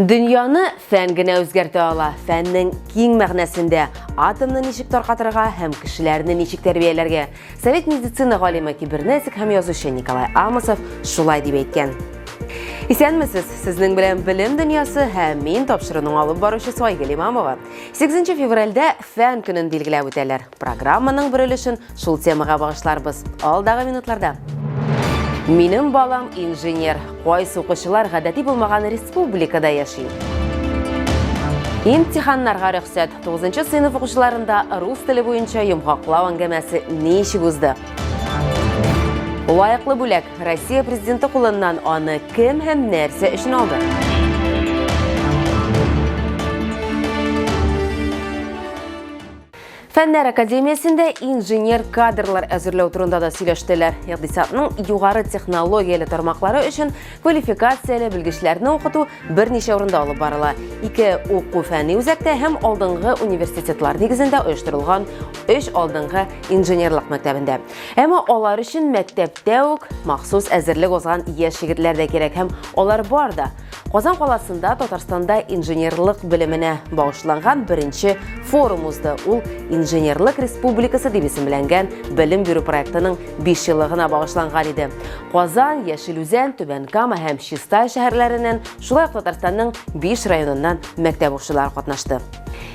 Дөньяны фән генә үзгәртә ала. Фәннең киң мәгънәсендә атомны ничек таркатырга һәм кешеләрне ничек тәрбияләргә. Совет медицина галиме, кибернетик һәм язучы Николай Амосов шулай дип әйткән. Исәнмесез! Сезнең белән Белем дөньясы һәм мин тапшыруның алып баручысы Айгөл Имамова. 8 февральдә фән көнен билгеләп үтәләр. Программаның бер өлешен шул темага багышларбыз алдагы минутларда. Минем балам инженер. Кайсы укучылар гадәти булмаган республикада яши? Имтиханнарга рөхсәт. 9 сыйныф укучыларында рус теле буенча йомгаклау әңгәмәсе ничек узды? Лайыклы бүләк Россия президенты кулыннан аны кем һәм нәрсә өчен алды? Фәннәр академиясендә инженер кадрлар әзерләү турында да сөйләштеләр. Икътисадның югары технологияле тармаклары өчен квалификацияле белгечләрне укыту берничә урында алып барыла. Ике уку фәнни үзәктә һәм алдынгы университетлар нигезендә оештырылган өч алдынгы инженерлык мәктәбендә. Әмма алар өчен мәктәптә үк махсус әзерлек узган яшь егетләр дә кирәк һәм алар бар да. Казан каласында Татарстанда инженерлык белеменә багышланган беренче форум узды. Ул Инженерлык республикасы дип исемләнгән белем бирү проектының 5 еллыгына багышланган иде. Казан, Яшел Үзән, Түбән Кама һәм Чистай шәһәрләреннән, шулай ук Татарстанның 5 районыннан мәктәп укучылары катнашты.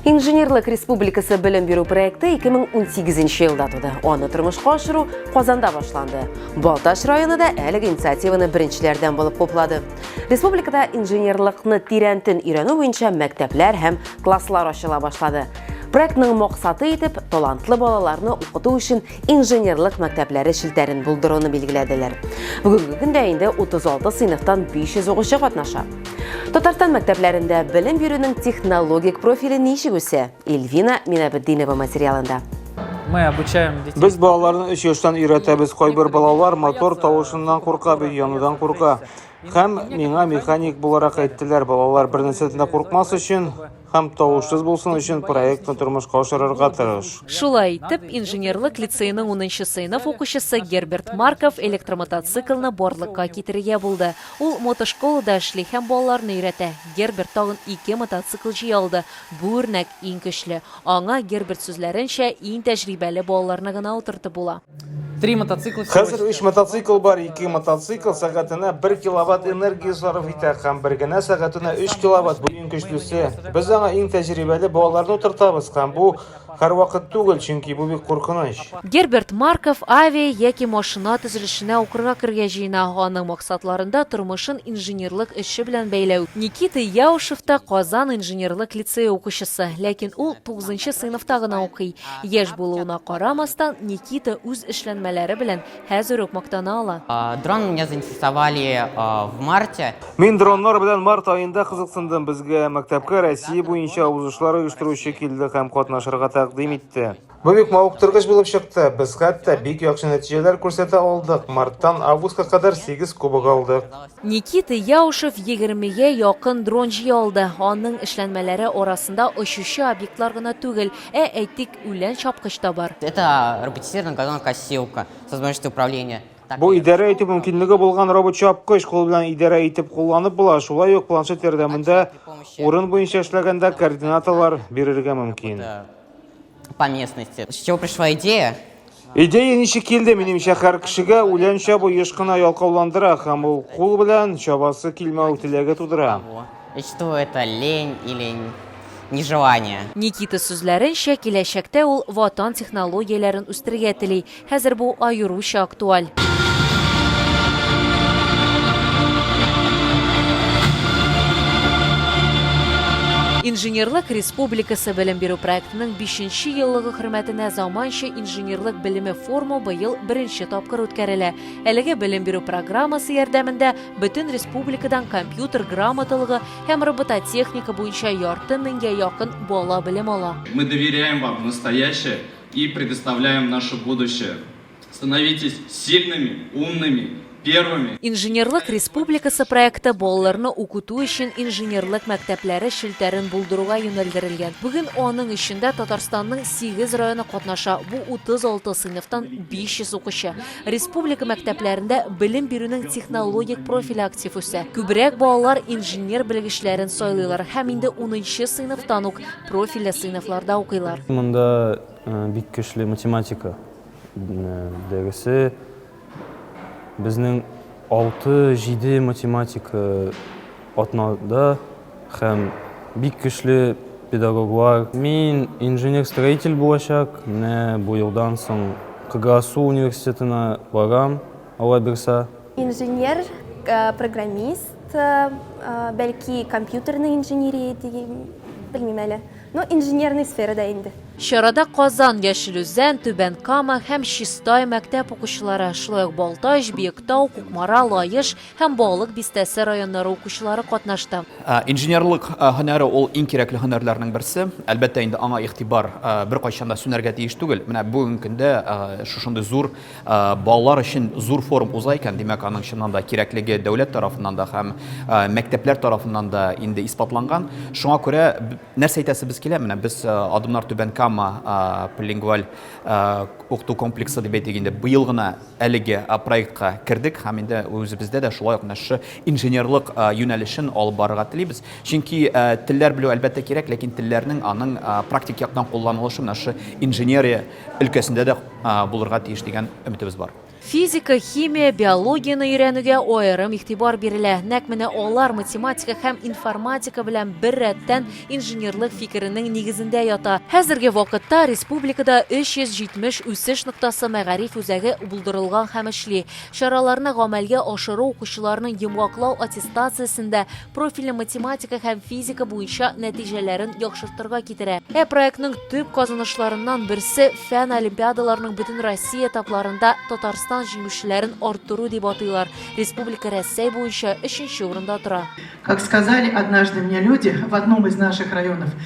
Инженерлык республикасы белем бирү проекты 2018 елда туды. Аны тормышка ашыру Казанда башланды. Балтач районы да әлеге инициативаны беренчеләрдән булып хуплады. Республикада инженерлыкны тирәнтен өйрәнү буенча мәктәпләр һәм класслар ачыла башлады. Проектның максаты итеп талантлы балаларны укыту өчен инженерлык мәктәпләре челтәрен булдыруны билгеләделәр. Бүгенге көндә инде 36 сыйныфтан 500 укучы катнаша. Татарстан мәктәпләрендә белем бирүнең технологик профиле ничек үсә? Эльвина Минабетдинова материалында. Мы обучаем детей. Без балаларны 3 яшьтән өйрәтәбез. Кайбер балалар мотор тавышыннан курка, бөй янудан курка. Һәм миңа механик буларак әйттеләр, балалар бер нәрсәдән дә куркмас өчен һәм тавышсыз булсын өчен проектны тормышка ашырырга тырыш. Шулай итеп, инженерлык лицейның 10 сыйныф укучысы Герберт Марков электромотоциклны барлыкка китерергә булды. Ул мотошколада эшли һәм балаларны өйрәтә. Герберт тагын ике мотоцикл җыя алды. Бу үрнәк иң көчле. Аңа, Герберт сүзләренчә, иң тәҗрибәле балаларны гына утыртып була. Три мотоцикла всего Хәзер сейчас. өч мотоцикл бар, ике мотоцикл сәгатенә бер киловатт энергия сарыф итә һәм бер генә сәгатенә өч киловатт, бу иң көчлесе. Без аңа иң тәҗрибәле балаларны утыртабыз һәм бу һәрвакыт түгел, чөнки бу бик куркыныч. Герберт Марков авиа яки машина төзелешенә укырга керергә җыена, аның максатларында тормышын инженерлык эше белән бәйләү. Никита Яушев та Казан инженерлык лицее укучысы, ләкин ул тугызынчы сыйныфта гына укый. Яшь булуына карамастан, Никита үз эшләнмәләре белән хәзер үк мактана ала. Дрон меня заинтересовали в марте. Мин дроннар белән март аенда кызыксындым. Безгә мәктәпкә Россия буенча узышлар оештыручы килде һәм катнашырга тәкъдим итте. Бу бик мавыктыргыч булып чыкты. Без хәтта бик яхшы нәтиҗәләр күрсәтә алдык. Марттан августка кадәр 8 кубок алдык. Никита Яушев егермегә якын дрон җыя алды. Аның эшләнмәләре арасында очучы объектлар гына түгел, ә, әйтик, үлән чапкыч та бар. Это роботизированная газонокосилка с возможностью управления. Бу идарә итү мөмкинлеге булган робот-чапкыч. Кул белән идарә итеп кулланып була, шулай ук планшет ярдәмендә урын буенча эшләгәндә координаталар бирергә мөмкин. по местности. С чего пришла идея? Идея ничек килде, минемчә, һәр кешегә үлән чабу еш кына ялкауландыра һәм ул кул белән чабасы килмәү теләге тудыра. И что это лень или нежелание? Никита сүзләренчә, киләчәктә ул ватан технологияләрен үстерергә тели. Хәзер бу аеруча актуаль. Инженерлык республикасы белем бирү проектының бишенче еллыгы хөрмәтенә заманча инженерлык белеме форумы быел беренче тапкыр үткәрелә. Әлеге белем бирү программасы ярдәмендә бөтен республикадан компьютер грамоталыгы һәм робототехника буенча ярты меңгә якын бала белем ала. Мы доверяем вам настоящее. И предоставляем наше будущее. Становитесь сильными, умными, первыми. Инженерлык республикасы проекты балаларны укыту өчен инженерлык мәктәпләре челтәрен булдыруга юнәлдерелгән. Бүген аның эчендә Татарстанның 8 районы катнаша. Бу 36 сыйныфтан 500 укучы. Республика мәктәпләрендә белем бирүнең технологик профиле актив үсә. Күбрәк балалар инженер белгечләрен сайлыйлар һәм инде 10 сыйныфтан ук Профильле сыйныфларда укыйлар. Монда бик көчле математика дәресе. Безнең 6-7 математика атнада һәм бик көчле педагоглар. Мин инженер-строитель булачак. Менә бу елдан соң КГАСУ университетына барам. Алла бирса. Инженер, программист, бәлки компьютерный инженерия дигән, белмим әле. Ну, инженерный сферада инде. Чарада Казан, Яшел Үзән, Түбән Кама һәм Чистай мәктәп укучылары, шулай ук Балтач, Биектау, Кукмара, Лаеш һәм Балык Бистәсе районнары укучылары катнашты. Инженерлык һөнәре ул иң кирәкле һөнәрләрнең берсе. Әлбәттә инде, аңа игътибар беркайчан да сүнәргә тиеш түгел. Менә бүген көндә шушындый зур Балалар өчен зур форум уза икән, димәк, аның чыннан да кирәклеге дәүләт тарафыннан да һәм мәктәпләр тарафыннан да инде исбатланган. Шуңа күрә нәрсә әйтәсебез килә, менә без Адымнар Түбән Кама полилингваль укыту комплексы дип әйтик инде, быел гына әлеге проектка кердек һәм инде үзебездә дә шулай ук менә шушы инженерлык юнәлешен алып барырга телибез. Чөнки телләр белү, әлбәттә, кирәк, ләкин телләрнең, аның практик яктан кулланылышы менә шушы инженерия өлкәсендә дә булырга тиеш дигән өметебез бар. Физика, химия, биологияне өйрәнүгә аерым игътибар бирелә. Нәкъ менә алар математика һәм информатика белән бер рәттән инженерлык фикеренең нигезендә ята. Хәзерге вакытта республикада 370 үсеш ноктасы мәгариф үзәге булдырылган һәм эшли. Чараларны гамәлгә ашыру укучыларның йомгаклау аттестациясендә профильле математика һәм физика буенча нәтиҗәләрен яхшыртырга китерә. Ә проектның төп казанышларыннан берсе фән олимпиадаларының бөтен Россия этапларында Татарстан җиңүчеләрен арттыру дип атыйлар. Республика Рәсәй буенча өченче урында тора. Как сказали однажды мне люди в одном из наших районов,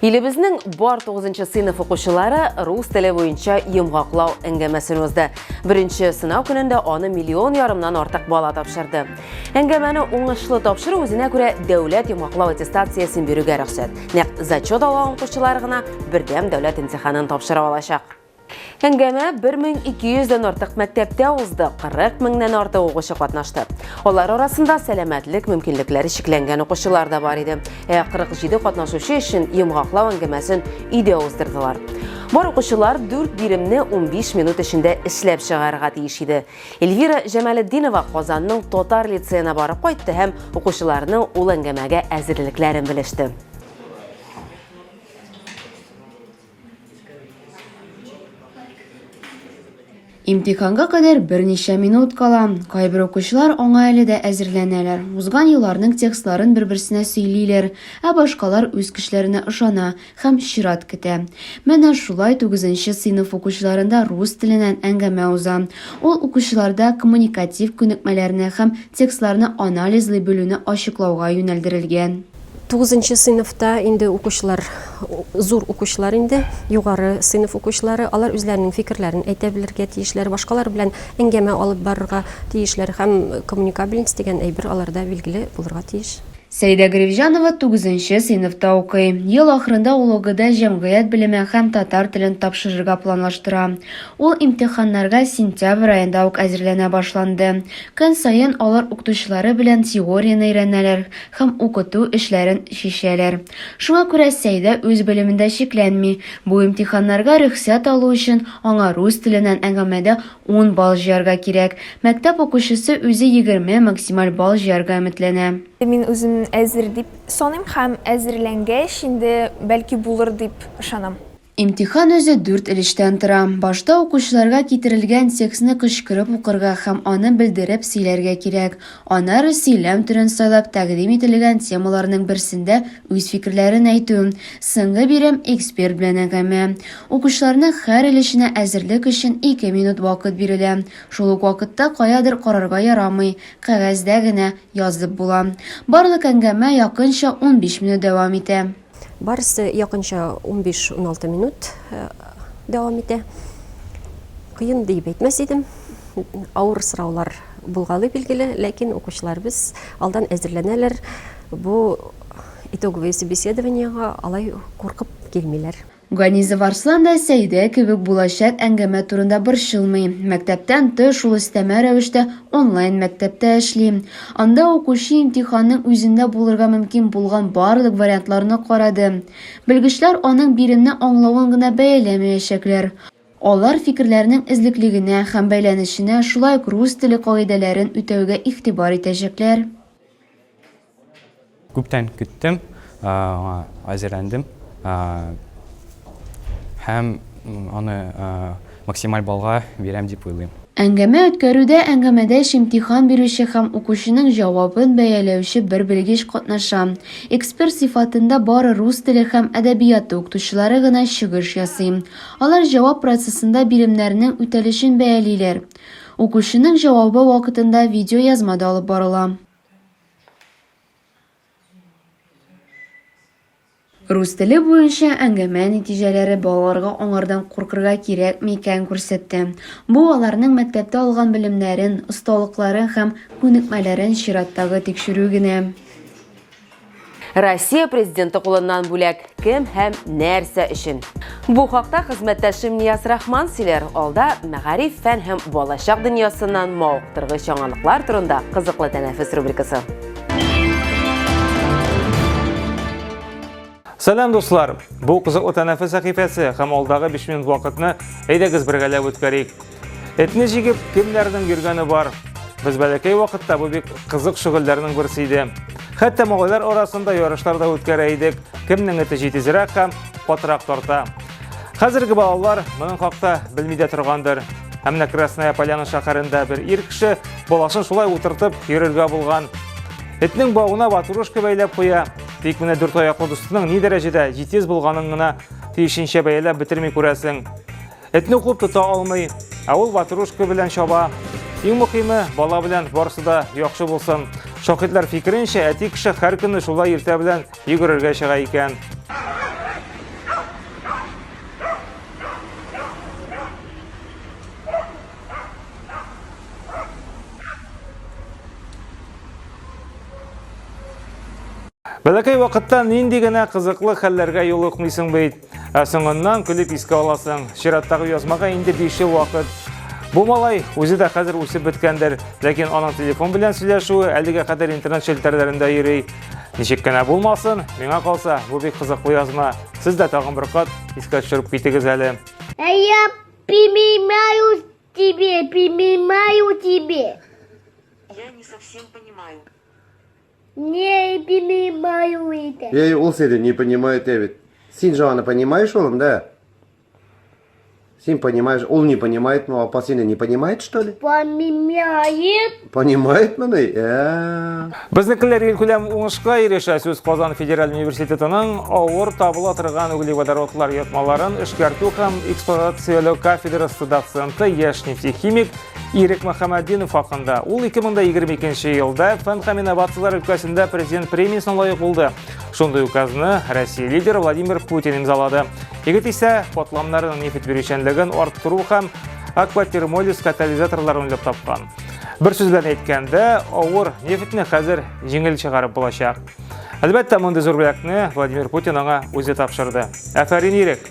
Илебезнең бар 9 сыйныф укучылары рус теле буенча йомгаклау әңгәмәсен узды. Беренче сынау көнендә аны миллион ярымнан артык бала тапшырды. Әңгәмәне уңышлы тапшыру үзенә күрә дәүләт йомгаклау аттестациясен бирүгә рөхсәт. Нәкъ зачет алган укучылар гына бердәм дәүләт имтиханын тапшыра алачак. Әңгәмә 1200 дән артык мәктәптә узды, 40 меңнән артык укучы катнашты. Алар арасында сәламәтлек мөмкинлекләре чикләнгән укучылар да бар иде. Ә 47 катнашучы өчен йомгаклау әңгәмәсен өйдә уздырдылар. Бар укучылар 4 биремне 15 минут эчендә эшләп чыгарырга тиеш иде. Эльвира Җамалетдинова Казанның татар лицеена барып кайтты һәм укучыларның ул әңгәмәгә әзерлекләрен белеште. Имтиханга кадәр берничә минут кала. Кайбер укучылар аңа әле дә әзерләнәләр. Узган елларның текстларын бер-берсенә сөйлиләр, ә башкалар үз көчләренә ышана һәм чират көтә. Менә шулай 9 сыйныф укучыларында рус теленнән әңгәмә уза. Ул укучыларда коммуникатив күнекмәләрне һәм текстларны анализлый белүне ачыклауга юнәлдерелгән. Тугызынчы сыйныфта инде укучылар, зур укучылар инде, югары сыйныф укучылары, алар үзләренең фикерләрен әйтә белергә тиешләр, башкалар белән әңгәмә алып барырга тиешләр һәм коммуникабельность дигән әйбер аларда билгеле булырга тиеш. Сәидә Гревҗанова тугызынчы сыйныфта укый. Ел ахырында ул ОГЭда җәмгыять белеме һәм татар телен тапшырырга планлаштыра. Ул имтиханнарга сентябрь аенда ук әзерләнә башланды. Көн саен алар укытучылары белән теорияне өйрәнәләр һәм укыту эшләрен чишәләр. Шуңа күрә Сәйдә үз белемендә чикләнми. Бу имтиханнарга рөхсәт алу өчен аңа рус теленнән әңгәмәдә ун балл җыярга кирәк. Мәктәп укучысы үзе егерме максималь балл җыярга өметләнә. Мин үземне әзер дип саныйм һәм әзерләнгәч инде, бәлки, булыр дип ышанам. Имтихан үзе дүрт өлештән тора. Башта укучыларга китерелгән текстны кычкырып укырга һәм аны белдереп сөйләргә кирәк. Аннары сөйләм төрен сайлап тәкъдим ителгән темаларның берсендә үз фикерләрен әйтү. Соңгы бирем, эксперт белән әңгәмә. Укучыларның һәр өлешенә әзерлек өчен ике минут вакыт бирелә. Шул ук вакытта каядыр карарга ярамый, кәгазьдә генә язып була. Барлык әңгәмә якынча унбиш минут дәвам итә. Барысы якынча унбиш-уналты минут дәвам итә. Кыен диеп әйтмәс идем. Авыр сораулар булгалый билгеле, ләкин укучыларыбыз алдан әзерләнәләр. Бу итоговое собеседованиега алай куркып килмиләр. Ганизов Арслан да Сәидә кебек булачак әңгәмә турында борчылмый. Мәктәптән тыш ул өстәмә рәвештә онлайн мәктәптә эшли. Анда укучы имтиханның үзендә булырга мөмкин булган барлык вариантларны карады. Белгечләр аның биремне аңлавын гына бәяләмәячәкләр. Алар фикерләрнең эзлеклегенә һәм бәйләнешенә, шулай ук рус теле кагыйдәләрен үтәүгә игътибар итәчәкләр. Күптән көттем, аңа әзерләндем һәм аны максималь баллга бирәм дип уйлыйм. Әңгәмә үткәрүдә әңгәмәдәш имтихан бирүче һәм укучының җавабын бәяләүче бер белгеч катнаша. Эксперт сыйфатында бары рус теле һәм әдәбияты укытучылары гына чыгыш ясый. Алар җавап процессында биремнәрнең үтәлешен бәялиләр. Укучының җавабы вакытында видеоязма да алып барыла. Рус теле буенча әңгәмә нәтиҗәләре балаларга аңардан куркырга кирәкме икән күрсәтте. Бу аларның мәктәптә алган белемнәрен, осталыкларын һәм күнекмәләрен чираттагы тикшерү генә. Россия президенты кулыннан бүләк кем һәм нәрсә өчен? Бу хакта хезмәттәшем Нияз Рахман сөйләр. Алда мәгариф, фән һәм балачак дөньясыннан мавыктыргыч яңалыклар турында кызыклы тәнәфес рубрикасы. Сәлам дуслар! Бу кызыклы тәнәфес сәхифәсе һәм алдагы 5 минут вакытны әйдәгез бергәләп үткәрик. Этне җигеп, кемнәрнең йөргәне бар? Без бәләкәй вакытта бу бик кызык шөгыльләрнең берсе иде. Хәтта малайлар арасында ярышлар да үткәрә идек. Кемнең эте җитезрәк һәм катырак тарта. Хәзерге балалар моның хакта белми дә торгандыр. Ә менә Красная Поляна шәһәрендә бер ир кеше баласын шулай утыртып йөрергә булган. Этнең бауына ватрушка бәйләп куя. Тик менә дүрт аяклы дустының ни дәрәҗәдә җитез булганын гына тиешенчә бәяләп бетерми күрәсең. Этне куып тота алмый, ә ул ватрушка белән чаба. Иң мөхиме, бала белән барысы да яхшы булсын. Шакитлар фикеренчә, әти кеше һәр көнне шулай иртә белән йөгерергә чыга икән. Бәләкәй вакытта нинди генә кызыклы хәлләргә юлыкмыйсың бит. Ә соңыннан көлеп искә аласың. Чираттагы язмага инде 5 ел вакыт. Бу малай үзе дә хәзер үсеп беткәндер, ләкин аның телефон белән сөйләшүе әлегә кадәр интернет челтәрләрендә йөри. Ничек кенә булмасын, миңа калса, бу бик кызыклы язма. Сез дә тагын бер кат искә төшереп китегез әле. А я примимаю тебе, примимаю тебе. Я не совсем понимаю. Не понимаю это. Я ул сиде не понимаю Дэвид. Син же аны понимаешь, улым, да? Син понимаешь, он не понимает, но ну, апа сине не понимает, что ли? Понимает. Понимает мыны? Ә. Безнекеләр ил күләм уңышка ирешә сүз Казан федераль университетының авыр табыла торган углеводородлар ятмаларын эшкәртү һәм эксплуатацияләү кафедрасы доценты яшь нефтехимик Ирек Мөхәммәддинов хакында. Ул 2022 елда фән һәм инновацияләр өлкәсендә президент премиясенә лаек булды. Шундый указны Россия лидеры Владимир Путин имзалады. Егет исә катламнарының нефть бирүчәнлеген арттыру һәм акватермолиз катализаторларын уйлап тапкан. Бер сүз белән әйткәндә, авыр нефтьне хәзер җиңел чыгарып булачак. Әлбәттә, мондый зур бүләкне Владимир Путин аңа үзе тапшырды. Афәрин ирек!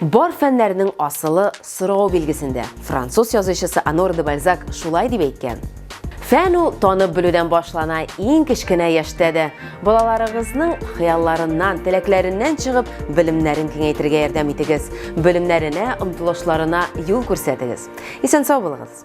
Бар фәннәрнең асылы сорау билгесендә. Француз язучысы Анор де Бальзак шулай дип әйткән. Фән ул танып белүдән башлана, иң кечкенә яшьтә дә. Балаларыгызның хыялларыннан, теләкләреннән чыгып, белемнәрен киңәйтергә ярдәм итегез, белемнәренә, омтылышларына юл күрсәтегез. Исән-сау булыгыз!